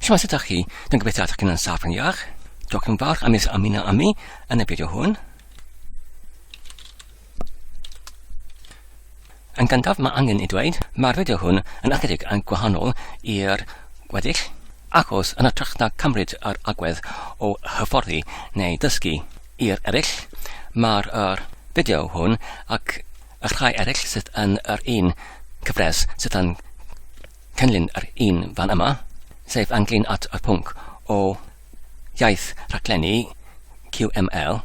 Shwmae, sut ydych chi? Dwi'n gobeithio ydych chi'n yn saff yn iach. Diolch yn fawr am eich ymuno â mi yn y fideo hwn. Yn gyntaf, mae angen i dweud, mae'r fideo hwn yn ychydig yn gwahanol i'r gweddill, achos yn ytrach na cymryd yr agwedd o hyfforddi neu dysgu i'r eraill, mae'r er fideo hwn ac y rhai eraill sydd yn yr un cyfres sydd yn cynllun yr un fan yma, sef ynglyn at y pwnc o iaith rhaglennu QML,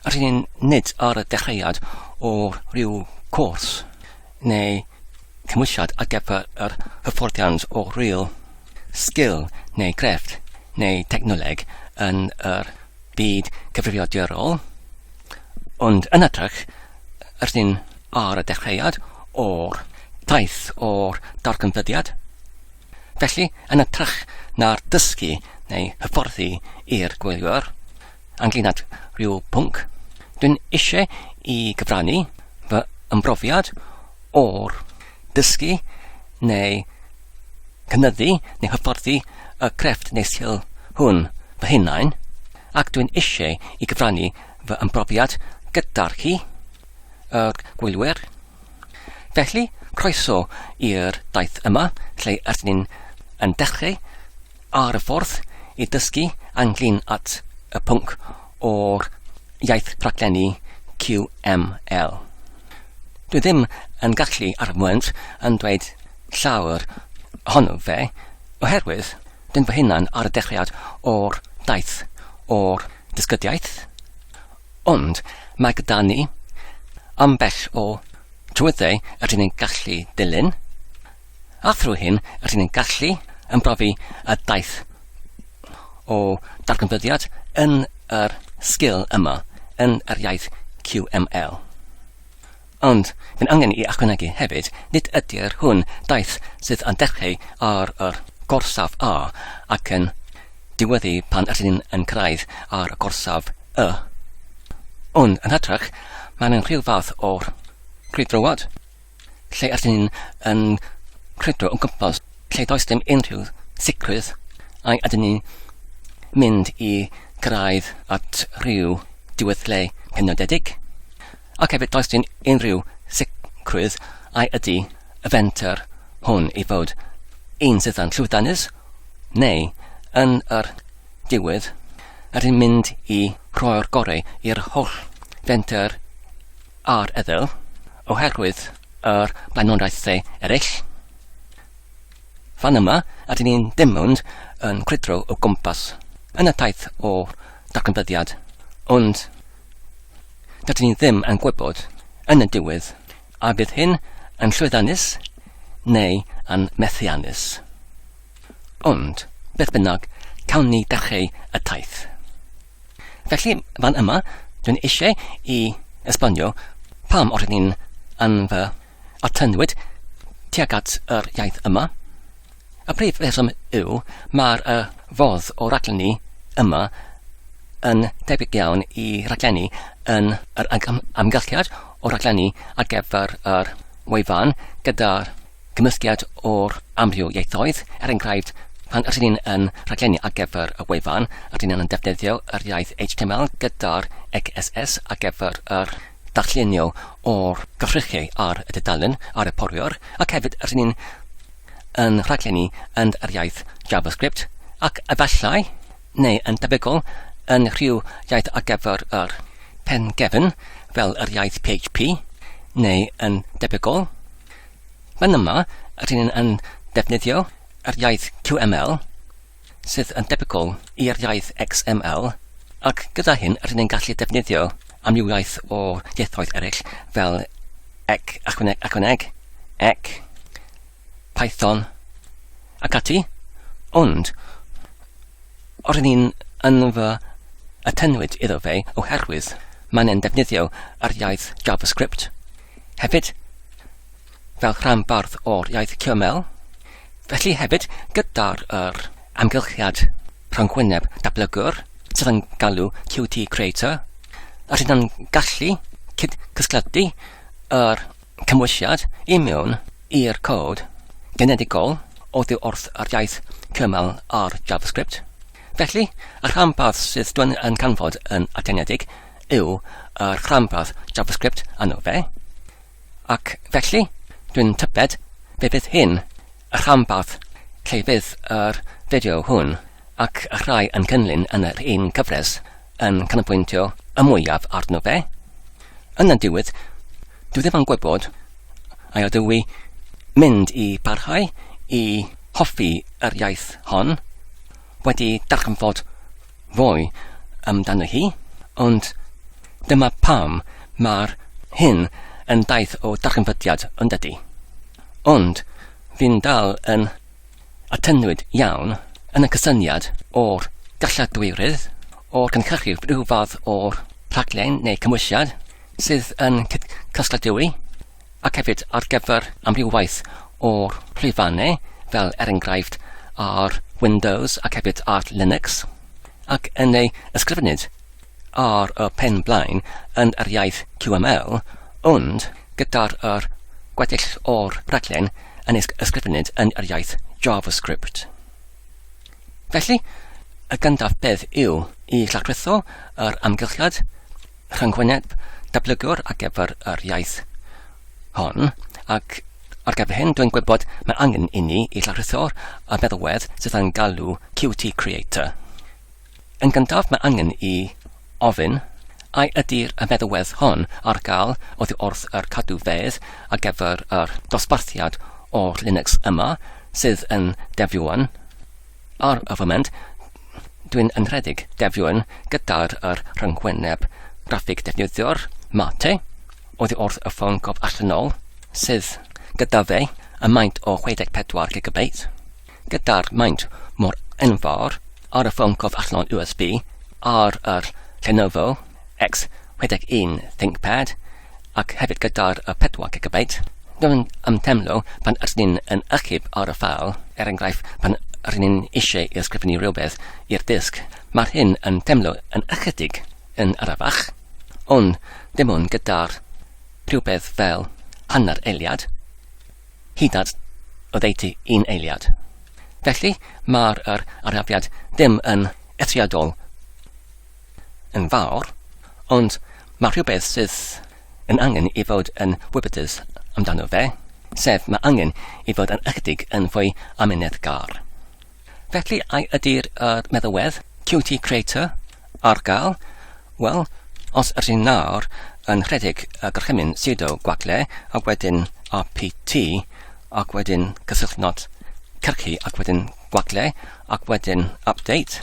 rydyn ni'n nid ar y dechreuad o ryw gwrs neu gymwysiad ar gyfer yr hyfforddiant o ryw sgil neu grefft neu dechnoleg yn yr byd cyfrifiadurol, ond yn hytrach, rydyn ar y dechreuad o'r taith o'r darganfyddiad. Felly, yn ytrach na'r dysgu neu hyfforddi i'r gwyliwr, ynglyn at rhyw pwnc, dwi'n eisiau i gyfrannu fy ymrofiad o'r dysgu neu cynyddu neu hyfforddi y crefft neu sgil hwn fy hunain, ac dwi'n eisiau i gyfrannu fy ymrofiad gyda'r chi, y gwylwyr. Felly, croeso i'r daith yma lle ydyn ni'n yn dechreu ar y ffordd i dysgu anglyn at y pwnc o'r iaith rhaglenni QML. Dwi ddim yn gallu ar y mwent yn dweud llawer ohono fe, oherwydd dyn fy hunan ar y dechreuad o'r daith o'r dysgydiaeth, Ond mae gyda ni ambell o drwyddedau rydyn ni'n gallu dilyn, a thrwy hyn rydyn ni'n gallu ymrofi y daith o darganfyddiad yn yr sgil yma, yn yr iaith QML. Ond, mae'n angen i ychwanegu hefyd, nid ydy'r hwn daith sydd yn dechreu ar yr gorsaf A ac yn diweddu pan rydyn yn cyrraedd ar y gorsaf Y. Ond, yn hytrach, mae'n yn rhyw fath o grwydroad, lle rydyn yn crwydro o gwmpas lle does dim unrhyw sicrwydd a ydyn ni mynd i gyrraedd at rhyw diweddle penodedig. ac hefyd does dim unrhyw sicrwydd ai ydy y fenter hwn i fod un sydd yn llwyddiannus neu yn yr diwedd rydyn mynd i rhoi'r gorau i'r holl fenter ar eddyl oherwydd yr blaenoriaethau eraill. Fan yma, ydyn ni'n dim ond yn crydro o gwmpas yn y taith o darganfyddiad, ond dydyn ni ddim yn gwybod yn y diwedd a bydd hyn yn llwyddiannus neu yn methiannus. Ond, beth bynnag, cawn ni dechreu y taith. Felly, fan yma, dwi'n eisiau i esbonio pam o'r ni'n yn fy a tynnwyd tuag at yr iaith yma. Y prif reswm yw mae'r uh, fodd o raglenni yma yn debyg iawn i raglenni yn yr amgylchiad o raglenni ar gyfer yr wefan gyda'r gymysgiad o'r amryw ieithoedd, er enghraifft, pan rydyn ni'n yn rhaglenni ar gyfer y wefan, rydyn ni'n defnyddio yr iaith HTML gyda'r XSS ar gyfer yr darllenio o'r gyfrychau ar y dudalen ar y porwr ac hefyd rydyn ni'n yn rhaglenni yn yr iaith JavaScript ac efallai, neu yn debygol, yn rhyw iaith ar gyfer yr pen gefn fel yr iaith PHP, neu yn debygol. Fan yma, rydyn ni'n yn defnyddio yr iaith QML sydd yn debygol i'r iaith XML, ac gyda hyn rydyn ni'n gallu defnyddio amrywiaeth o ieithoedd eraill fel ec, achwaneg, achwaneg, ec, Python ac ati, ond rydyn ni'n yn fy atenwyd iddo fe oherwydd mae'n defnyddio yr iaith JavaScript. Hefyd, fel rhanbarth o'r iaith Cymmel, felly hefyd gyda'r yr amgylchiad rhyngwyneb datblygwr sydd yn galw QT Creator, yr hyn yn gallu cyd-cysgledu yr cymwysiad i mewn i'r cod genedigol oddi wrth yr iaith Cymmel ar JavaScript. Felly, y rhanbarth sydd dwn yn canfod yn atenedig yw yr rhanbarth JavaScript anno fe, Ac felly, dwi'n tybed fe fydd hyn y rhanbarth lle fydd yr fideo hwn ac y rhai yn gynllun yn yr un cyfres yn canolbwyntio y mwyaf arno fe. Yn y diwedd, dwi ddim yn gwybod a ydw i mynd i barhau i hoffi yr iaith hon, wedi darganfod fwy amdano hi, ond dyma pam mae'r hyn yn daith o darganfydiad yn dydy. Ond fi'n dal yn atynnwyd iawn yn y cysyniad o'r galladwyrydd o'r cynhyrchu rhyw fath o'r rhaglen neu cymwysiad sydd yn cystadleu ac hefyd ar gyfer amrywiaeth o'r llwyfannau, fel er enghraifft ar Windows ac hefyd ar Linux, ac yn ei ysgrifennid ar y pen blaen yn yr iaith QML, ond gyda'r yr gweddill o'r rhaglen yn ei ysgrifennid yn yr iaith JavaScript. Felly, y gyntaf beth yw i lladrutho yr amgylchiad, rhyngwyneb datblygwr ar gyfer yr iaith hon, ac ar gyfer hyn dwi'n gwybod mae angen inni i lawrlwytho'r y meddalwedd sydd a'n galw QT Creator. Yn gyntaf mae angen i ofyn ai ydy'r y meddalwedd hon ar gael oddi wrth yr cadw fedd ar gyfer yr dosbarthiad o'r Linux yma sydd yn defnyddio hwn. Ar y foment, dwi'n ynrhedeg defnyddion gyda'r yr rhyngwyneb graffig defnyddio'r mate oddi wrth y ffôn gof allanol sydd gyda fe y maint o 64 GB gyda'r maint mor enfawr ar y ffôn gof allanol USB ar yr Lenovo X61 ThinkPad ac hefyd gyda'r y pedwar gigabyte, rwy'n ymdeimlo pan ydyn ni'n yn achub ar y ffeil, er enghraifft pan rŷn ni'n eisiau i ysgrifennu rhywbeth i'r disg, mae'r hyn yn teimlo yn ychydig yn arafach, ond dim ond gyda'r rhywbeth fel hanner eiliad, hyd at oddeutu un eiliad. Felly, mae'r yr arafiad ddim yn eithriadol yn fawr, ond mae rhywbeth sydd yn angen i fod yn wybodus amdano fe, sef mae angen i fod yn ychydig yn fwy amyneddgar. Felly, ai ydy'r er meddywedd, QT Creator, ar gael? Wel, os ydyn nawr yn rhedeg y gorchymyn sudo gwagle ac wedyn rpt ac wedyn cysylltnod cyrchu ac wedyn gwagle ac wedyn update,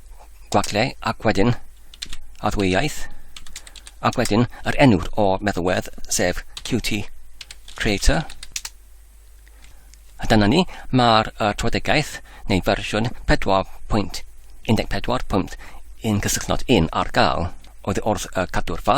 Gwaglle, ac wedyn adfywyaeth, ac wedyn yr enw o'r meddalwedd, sef Qt Creator. A dyna ni, mae'r uh, trafodaeth neu fersiwn 4.14.1 cysylltnod un ar gael oedd wrth uh, cadw'r fa.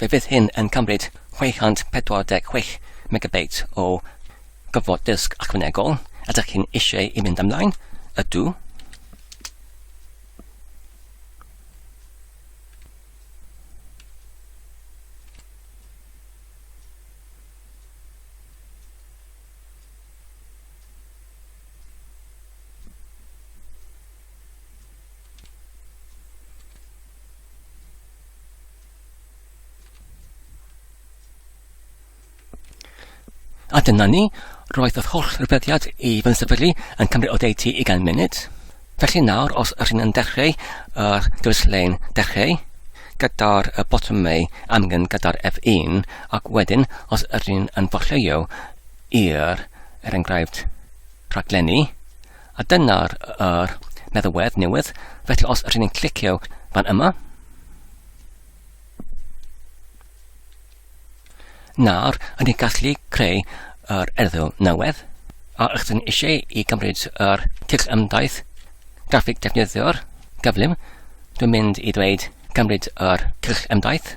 Fe fydd hyn yn cymryd 646 megabeit o gyflog dysg ychwanegol, ydych chi'n eisiau i fynd ymlaen? Ydw. A dyna ni, roedd yr holl rybuddiad i fy nysefydlu yn cymryd o deutu i gan munud. Felly nawr, os ydych yn dechreu yr dewis-lein dechreu, gyda'r botymau amgen gyda'r F1, ac wedyn, os ydych yn fforlleio i'r, er enghraifft, rhaglenni, A dyna'r yr meddalwedd newydd. Felly os rydyn ni'n clicio fan yma, nawr yn ni'n gallu creu yr erthygl newydd, a rydyn eisiau i gymryd yr tyll ymdaith graffig defnyddio'r gyflym, dwi'n mynd i ddweud gymryd yr tyll ymdaith,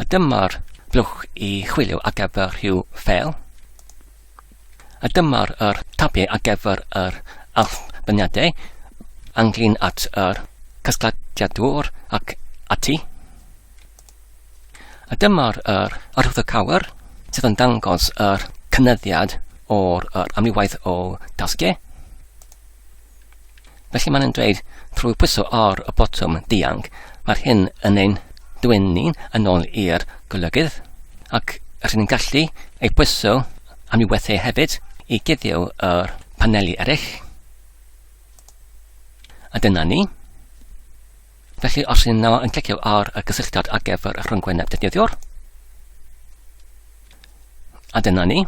A dyma'r blwch i chwilio ar gyfer rhyw ffeil. A dyma'r yr tabiau ar gyfer yr allbyniadau ynglyn at yr casgladiadwr ac ati. A dyma'r yr arwyddo cawr sydd yn dangos yr cynyddiad o'r yr amrywaith o dasgiau. Felly mae'n dweud, trwy pwyso ar y botwm dianc, mae'r hyn yn ein dwyn ni yn ôl i'r golygydd, ac rydyn ni'n gallu ei pwyso am i weithiau hefyd i guddio yr paneli eraill. A dyna ni. Felly os rydyn nhw yn clicio ar y gysylltiad ar gyfer y rhyngwyneb defnyddiwr, a dyna ni.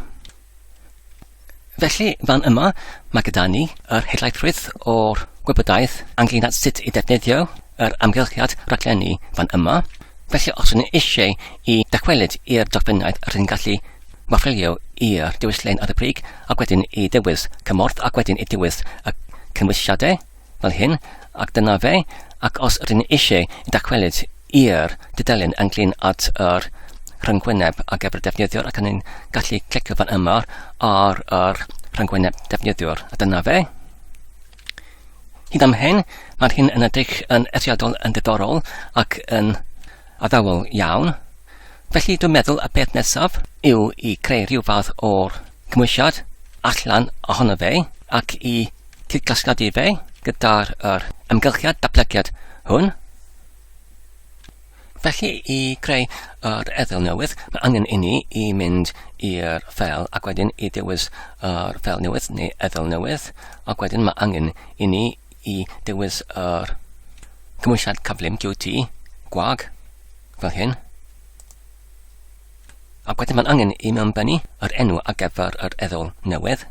Felly, fan yma, mae gyda ni yr helaethrwydd o'r gwybodaeth ynglyn at sut i ddefnyddio yr amgylchiad rhaglenni fan yma. Felly, os ydyn eisiau i dychwelyd i'r dogfennaeth, rydyn gallu wafrilio i'r dewislen ar y brig ac wedyn i ddewis cymorth ac wedyn i ddewis y cymwysiadau. fel hyn, ac dyna fe, ac os rŷn eisiau dychwelyd i'r dudalen ynglŷn at yr rhyngwyneb ar gyfer defnyddiwr ac ni'n gallu clicio fan yma ar yr rhyngwyneb defnyddiwr. A dyna fe. Hyd am hyn, mae'r hyn yn edrych yn eithriadol yn diddorol ac yn addawol iawn. Felly dwi'n meddwl y peth nesaf yw i creu rhyw fath o'r cymwysiad allan ohono fe ac i cyd-gasglu fe gyda'r yr amgylchiad datblygiad hwn. Felly i greu yr eddyl newydd, mae angen i ni i mynd i'r ffel ac wedyn i dewis yr ffel newydd neu eddyl newydd ac wedyn mae angen i ni i dewis yr cymwysiad cyflym QT gwag fel hyn. Ac wedyn mae'n angen i mi ymbennu yr enw ar gyfer yr eddol newydd.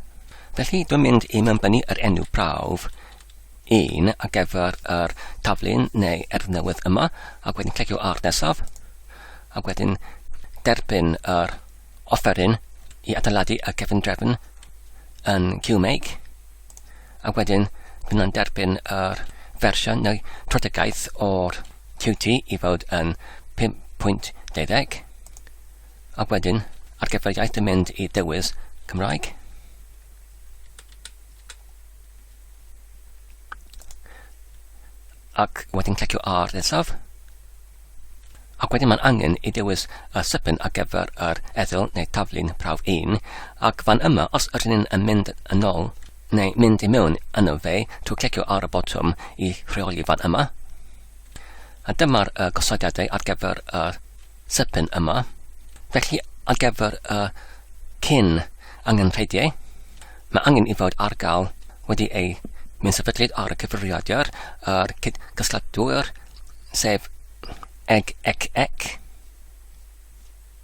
Felly dwi'n mynd i mi ymbennu yr enw prawf un ar gyfer yr taflun neu erdd newydd yma ac wedyn clicio ar nesaf ac wedyn derbyn yr offeryn i adeiladu y cefn drefn yn QMake ac wedyn byddwn yn derbyn yr fersiwn neu trodegaeth o'r QT i fod yn 5.12. Ac wedyn, ar gyfer iaith yn mynd i dewis Cymraeg. Ac wedyn clicio ar nesaf. Ac wedyn mae'n angen i dewis y sypen ar gyfer yr eddyl neu taflun prawf 1, ac fan yma, os ydyn ni'n mynd yn ôl neu mynd i mewn yno fe, trwy clicio ar y botwm i rheoli fan yma. A dyma'r uh, gosodiadau ar gyfer y uh, sypyn yma. Felly ar gyfer y uh, cyn angenrheidiau, mae angen i fod ar gael wedi ei mynd sefydlyd ar y cyfrifiadur a'r cydgysgladwyr, sef eg ec ec.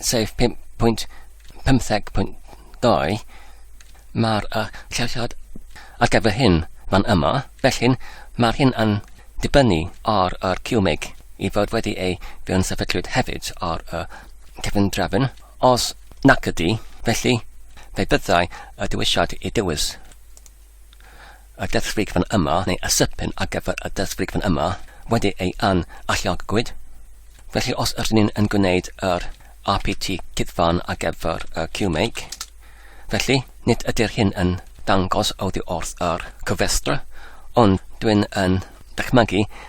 sef 5.15.2, mae'r uh, lleoliad ar gyfer hyn fan yma, felly mae'r hyn yn dibynnu ar yr QMIG i fod wedi ei fewn sefydlwyd hefyd ar y cefn drefn. Os nac ydy, felly fe byddai y dewisiad i dewis. y dysfrigfan yma neu y sypyn ar gyfer y dysfrigfan yma wedi ei an alluogwyd. Felly os ydyn ni'n yn gwneud yr RPT cyddfan ar gyfer y QMake, felly nid ydy'r hyn yn dangos oddi wrth yr cofrestr, ond dwi'n yn dychmygu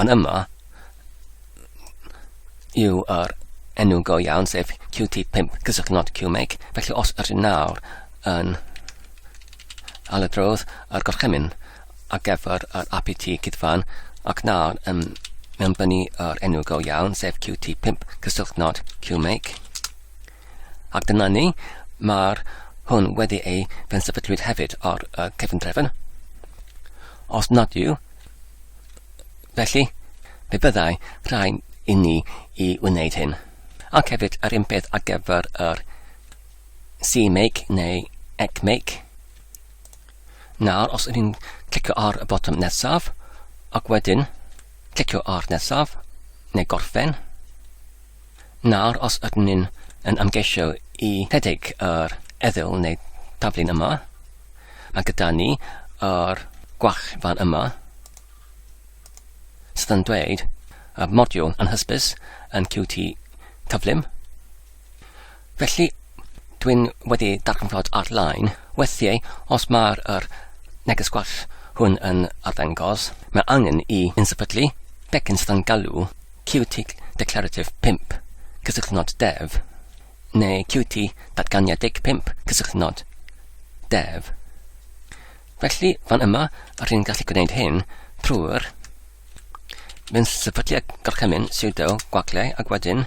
Ond yma yw yr enw go iawn, sef QT5 gysylltu not QMake. Felly os ydyn nawr yn aladrodd yr gorchymyn ar gyfer yr APT cydfan ac nawr yn mewnbynnu yr enw go iawn, sef QT5 cysylltu not QMake. Ac dyna ni, mae'r hwn wedi ei fensefydlwyd hefyd ar y cefndrefn. Os nad yw, felly, fe byddai rhai i ni i wneud hyn. Ac hefyd yr un peth ar gyfer yr CMake neu ECMake. Nawr, os ydyn clicio ar y botwm nesaf, ac wedyn clicio ar nesaf, neu gorffen, Nawr os ydyn ni'n yn ymgeisio i rhedeg yr eddyl neu daflun yma, mae gyda ni yr gwach fan yma sydd yn dweud y modiwl anhysbys yn Qt cyflym. Felly, dwi'n wedi darganfod ar-lein weithiau os mae'r yr neges gwall hwn yn arddangos, mae angen i yn sefydlu pecyn sydd yn galw QT Declarative 5, cysylltnod dev, neu QT Datganiedig 5, cysylltnod dev. Felly, fan yma, rwy'n gallu gwneud hyn trwy'r Mae'n sefydlu gorchymyn sudo gwaglau ac wedyn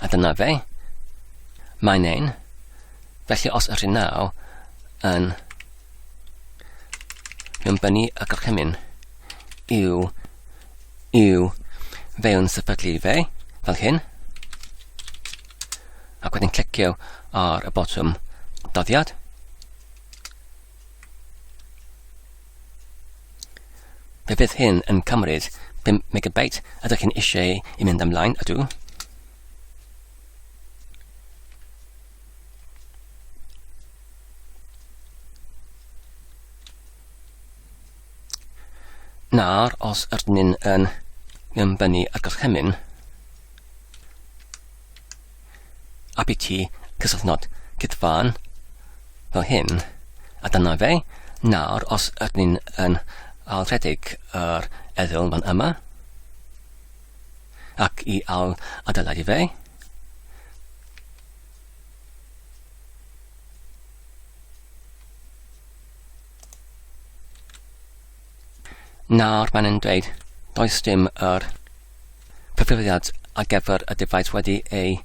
A dyna fe. Mae'n ein. Felly os ydyn naw yn mynbynnu y gorchymyn yw yw fewn sefydlu fe fel hyn ac wedyn clicio ar y botwm doddiad Fe fydd hyn yn cymryd 5 megabyte. Ydych chi'n eisiau i mynd ymlaen? Ydw. Nawr, os ydyn ni'n yn gymbynu ar gorchymyn, a bydd ti cysylltnod cytfan fel hyn a dyna fe. Nawr, os ydyn ni'n yn ailrhedeg yr eddyl fan yma, ac i ail adeiladu fe, Nawr mae'n yn dweud does dim yr cyfrifiad ar gyfer y defaid wedi ei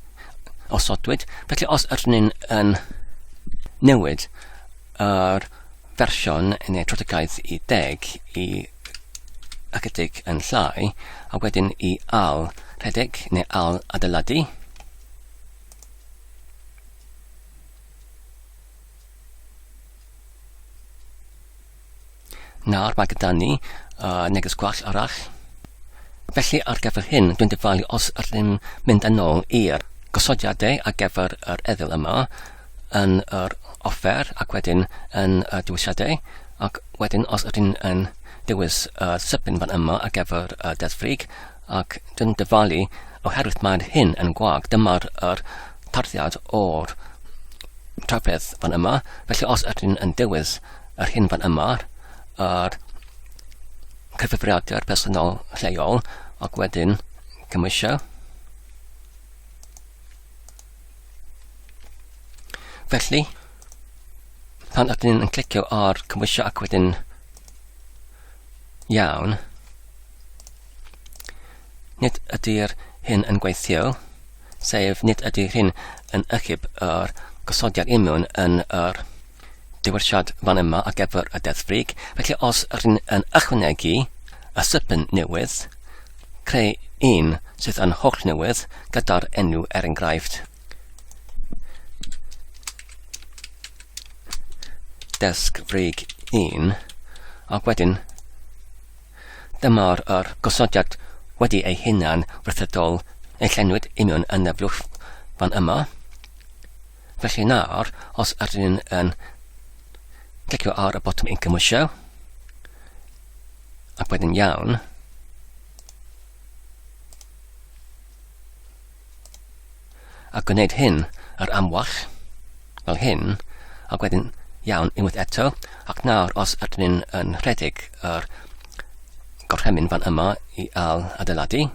osodwyd. Felly os ydyn ni'n yn newid yr fersiwn neu trotigaeth i deg i ychydig yn llai a wedyn i al rhedeg neu al adeiladu Nawr mae gyda ni uh, neges gwell arall. Felly ar gyfer hyn, dwi'n dyfalu os ydym mynd yn ôl i'r gosodiadau ar gyfer yr eddyl yma yn yr offer ac wedyn yn y dewisiadau ac wedyn os ydym yn dewis y uh, sybyn fan yma ar gyfer y uh, deddfrig ac dwi'n dyfalu oherwydd mae'r hyn yn gwag. Dyma'r er tarddiad o'r trafferth fan yma. Felly os ydyn yn dewis yr hyn fan yma, yr cyfrifiadur personol lleol, ac wedyn cymwysio. Felly, pan ydyn yn clicio ar cymwysio ac wedyn iawn, Nid ydy'r hyn yn gweithio, sef nid ydy hyn yn ychyb yr gosodiad imiwn yn yr diwylliad fan yma ar gyfer y Deddf Frig, felly os rydyn yn ychwanegu y sypyn newydd, creu un sydd yn holl newydd gyda'r enw er enghraifft. Desg Frig 1, ac wedyn Dyma'r yr gosodiad wedi ei hunan wrthydol ei llenwyd union yn y blwch fan yma. Felly nawr, os ydyn ni'n yn clicio ar y botwm yn cymwysio, ac wedyn iawn, a gwneud hyn yr amwell, fel hyn, ac wedyn iawn unwaith eto, ac nawr os ydyn ni'n yn rhedeg yr gorchymyn fan yma i al adeiladu,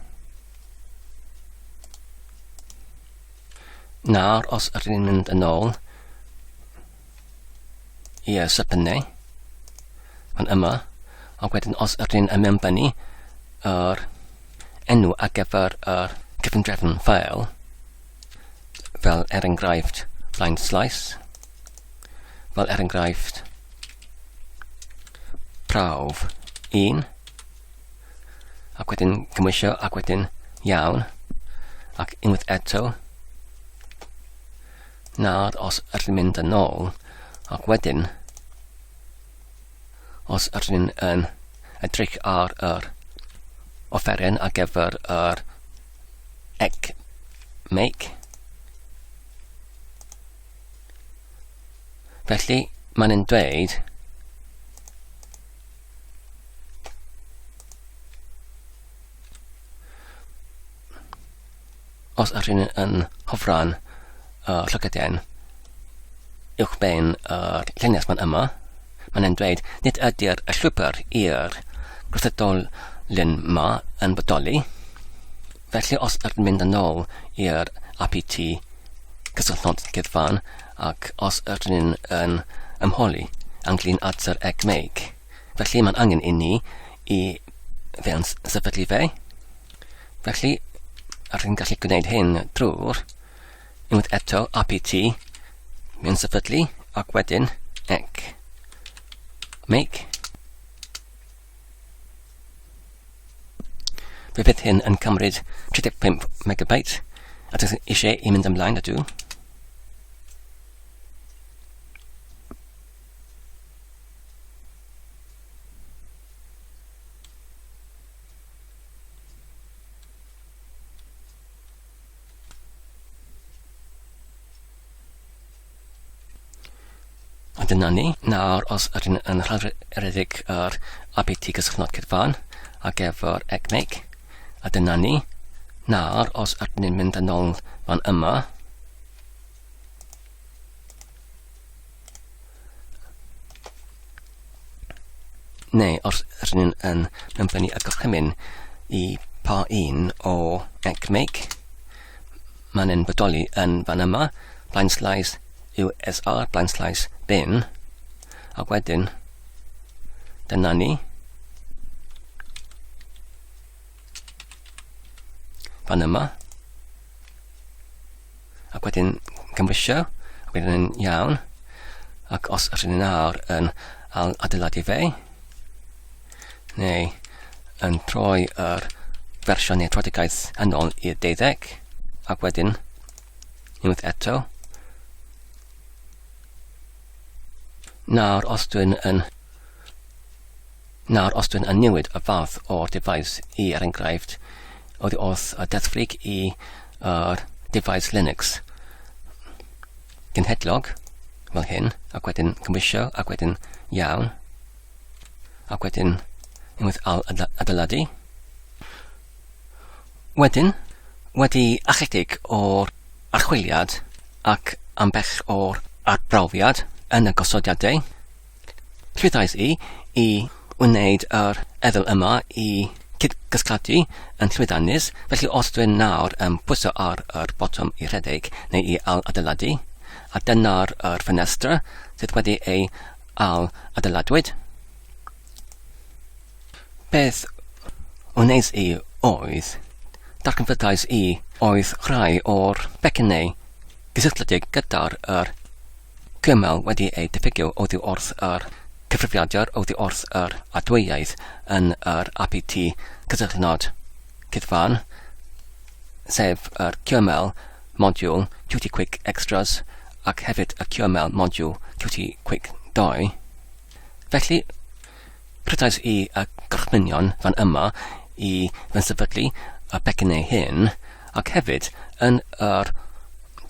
nawr os ydyn ni'n mynd yn ôl Ie, so pennau. Mae'n yma. Ac wedyn os ydyn ni'n ymwneud yr enw ar gyfer yr cyfundrefn ffael, fel er enghraifft line slice, fel er enghraifft prawf 1, ac wedyn gymwysio ac wedyn iawn, ac unwaith eto, Nawr os ydyn ni'n mynd yn ôl, ac wedyn, os ydyn ni'n yn edrych ar yr offeren ar gyfer yr egg make, felly mae'n yn dweud os ydych chi'n yn hofran y llygedyn uwchben yr llinell fan yma, mae'n e'n dweud nid ydy'r llwybr i'r gwrthydolyn ma yn bodoli. Felly os ydych chi'n mynd yn ôl i'r APT cysylltnod gyfan ac os ydych chi'n yn ymholi ynglyn at yr egmeg, Felly mae'n angen i ni i fewn sefydlu fe. Felly, rydyn ni'n gallu gwneud hyn drwy'r unwaith eto apt mewn sefydlu ac wedyn ec make Fe fydd hyn yn cymryd 35 MB a dych eisiau i mynd ymlaen â dŵ. Dyna ni. Nawr, os ydyn yn rhedeg yr APT gysylltnod cydfan ar gyfer ECMIC, a dyna ni. Nawr, os ydyn ni'n mynd yn ôl fan yma, Neu os rydyn ni'n yn ymddynu y gorchymyn i pa un o ECMEG, mae'n yn bodoli yn fan yma, blind slice USR, blind slice bin, a wedyn dyna ni. Fan yma. ac wedyn cymrysio, ac wedyn yn iawn, ac os ydyn ni nawr yn adeiladu fe, neu yn troi yr fersiwn neu troedigaeth yn ôl i'r deuddeg, ac wedyn unwaith eto. Nawr, os dwi'n yn Nawr os dwi'n newid y fath o'r defaid i er enghraifft oddi wrth y deddfrig i yr defaid Linux genhedlog fel hyn ac wedyn cymwysio ac wedyn iawn ac wedyn unwaith al adeiladu wedyn wedi achedig o'r archwiliad ac ambell o'r arbrawfiad yn y gosodiadau Rhyddhais i i wneud yr ewel yma i cyd-gysglladu yn llwyddiannus, felly os dwi'n nawr yn pwyso ar yr botwm i rhedeg neu i ail-adeiladu, a dyna'r yr ffenestr sydd wedi ei ail-adeiladwyd. Beth wneis i oedd, darganfyddais i oedd rhai o'r becynnau gysylltiedig gyda'r yr Cymal wedi ei diffygio oddi wrth yr cyfrifiadur oddi wrth yr adweaith yn yr APT cysylltnod cyfan, sef yr QML modiwl Qt Quick Extras ac hefyd y QML modiwl Qt Quick 2. Felly, rhedais i y gorchmynion fan yma i fy nsefydlu y pecyn ei hun, ac hefyd yn yr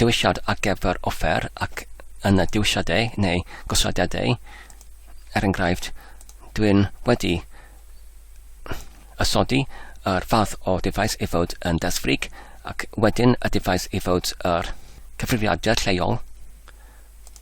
dewisiad ar gyfer offer ac yn y dewisiadau neu gosodiadau. Er enghraifft, dwi'n wedi ysodi yr fath o defaid i fod yn desfrig ac wedyn y defaid i fod yr cyfrifiadur lleol.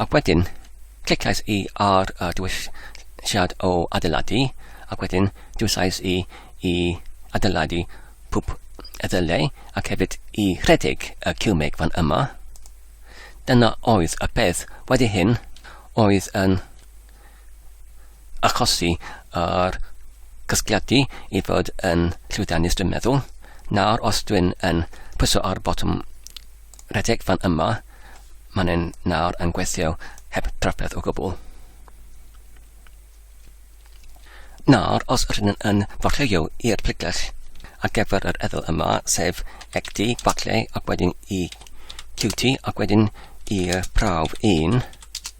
Ac wedyn, clicais i ar y dewisiad o adeiladu, ac wedyn dewisais i i adeiladu pwp ddyle, ac hefyd i rhedeg y ciwmeg fan yma. Dyna oedd y peth. Wedi hyn, oedd yn achosi yr casgliadu i fod yn llwyddiannus dwi'n meddwl. Nawr os dwi'n yn pwyso ar botwm redeg fan yma, mae'n yn nawr yn gweithio heb drafferth o gwbl. Nawr, os rydyn yn farchleio i'r pregell ar gyfer yr eddyl yma, sef XD, falle, ac wedyn i QT, ac wedyn i'r prawf 1,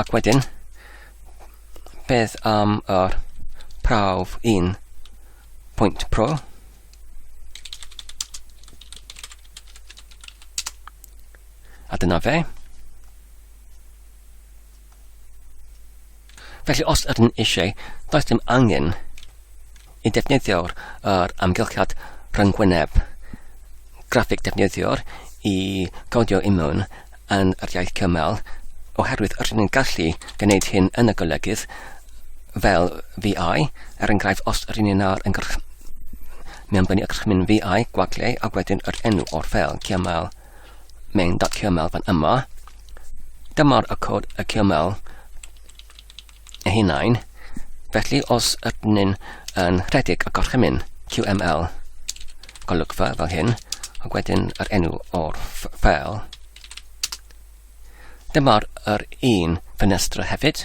Ac wedyn, beth am yr prawf un pwynt pro? A dyna fe. Felly os ydyn eisiau, does dim angen Y defnyddiwr yr amgylchiad rhyngwyneb graffig defnyddiwr i godio immwn yn yr iaith cymal, oherwydd rydyn ni'n gallu gwneud hyn yn y golygydd fel VI, er enghraifft os rydyn ni'n ar yngrch... mewn bynu ygrychmyn VI, gwagle, ac wedyn yr enw o'r fel cymal main.cyml fan yma. Dyma'r y cod y cymal eu hunain, felly os ydyn nhw'n yn rhedeg y gorchymyn QML golygfa fel hyn, ac wedyn yr enw o'r ffel. Dyma'r yr un ffenestr hefyd.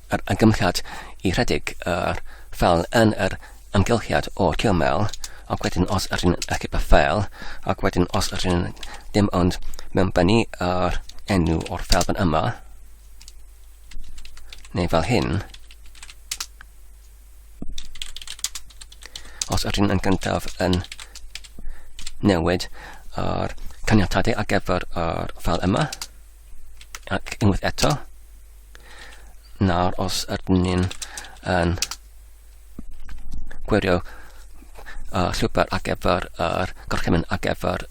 yr ymgymhelliad i rhedeg yr ffeil yn yr ymgylchiad o'r cymel, ac wedyn os ydyn achub y ffeil, ac wedyn os ydyn dim ond mewn bennu yr enw o'r ffeil fan yma, neu fel hyn, os ydyn yn gyntaf yn newid yr caniatadau ar gyfer yr ffeil yma, ac unwaith eto, Nawr os ydyn ni'n yn gwirio uh, llwybr ar gyfer yr gorchymyn ar gyfer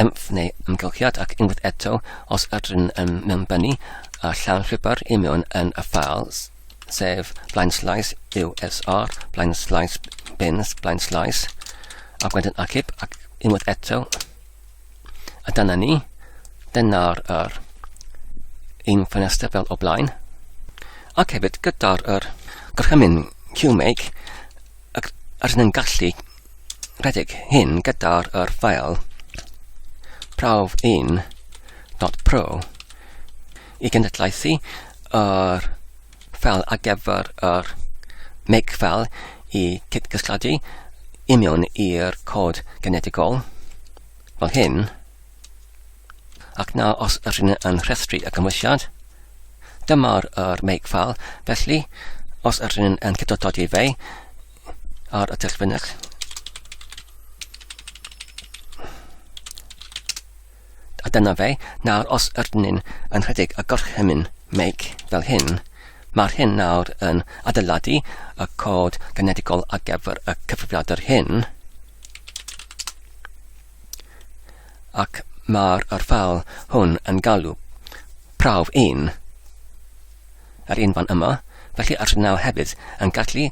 emf neu ymgylchiad ac unwaith eto os ydyn yn mewnbynnu y llawn llwybr i mewn yn y files sef blaen slais USR, blaen slais bins, blaen slais ac wedyn achub ac unwaith eto A dyna ni. Dyna'r er, un ffenestr fel o blaen. Ac hefyd gyda'r er, gorchymyn QMake, ac ar yn gallu rhedeg hyn gyda'r er ffael prawf un dot pro i genedlaethu yr er fel ar gyfer yr make fel i cydgysylltu i mewn i'r cod genetigol, fel hyn, ac na os ydyn yn rhestru y cymwysiad. Dyma'r er make fel, felly os ydyn yn cydododi fe ar y tyllfynyll, A dyna fe, nawr os ydyn yn rhedeg y gorchymyn meic fel hyn, mae'r hyn nawr yn adeiladu y cod genedigol ar gyfer y cyfrifiadur hyn, ac mae'r ffeil hwn yn galw prawf 1. yr un fan yma, felly yr nawr hefyd yn gallu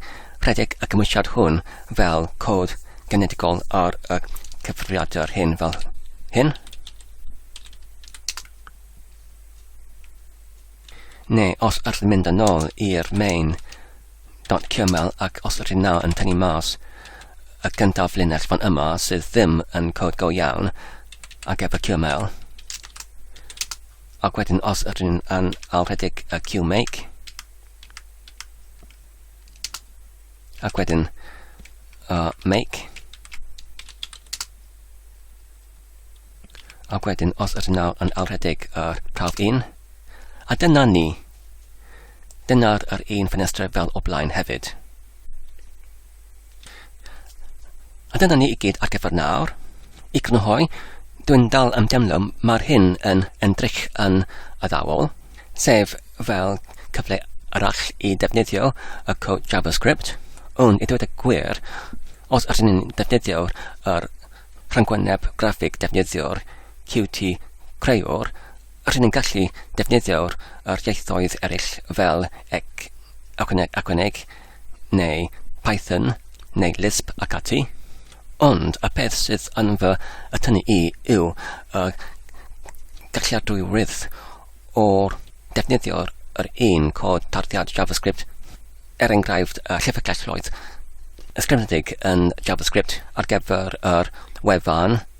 rhedeg y cymwysiad hwn fel cod genedigol ar y cyfrifiadur hyn fel hyn. Neu os ydych chi'n mynd yn ôl i'r main .qml ac os ydych chi'n nawr yn tynnu mas y gyntaf linell fan yma sydd ddim yn cod go iawn ac efo QML, Ac wedyn os ydyn nhw'n yn alrhedeg y QMake, ac wedyn uh, make, ac wedyn os ydyn nhw yn alrhedeg yr prawf un, a dyna ni. Dyna'r yr un ffenestr fel o blaen hefyd. A dyna ni i gyd ar gyfer nawr. I grynhoi, dwi'n dal yn demlo mae'r hyn yn endrych yn addawol, sef fel cyfle arall i ddefnyddio y cod JavaScript, ond i ddweud y gwir, os ydyn ni'n defnyddio yr rhyngwyneb graffig defnyddio'r Qt Creor, ydyn ni'n gallu defnyddio'r ieithoedd eraill fel ec, ychwaneg, neu Python, neu Lisp ac ati, ond y peth sydd yn fy atynnu i yw y galliadwywydd o ddefnyddio yr un cod tarddiad JavaScript, er enghraifft y llyfrgelloedd ysgrifenedig yn JavaScript ar gyfer yr wefan,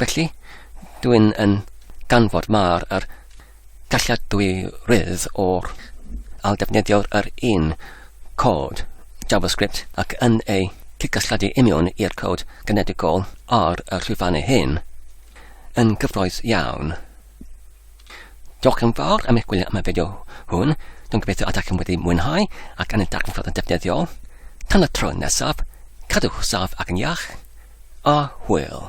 Felly, dwi'n yn ganfod mar yr galliadwy rydd o'r al defnyddio'r yr un cod JavaScript ac yn ei cydgysylltu union i'r cod genedigol ar y llwyfannau hyn yn gyffroes iawn. Diolch yn fawr am eich gwylio am y fideo hwn. Dwi'n gobeithio ydych chi'n wedi mwynhau ac yn y darganfod yn defnyddiol. Tan y tro nesaf, cadwch saf ac yn iach, a hwyl.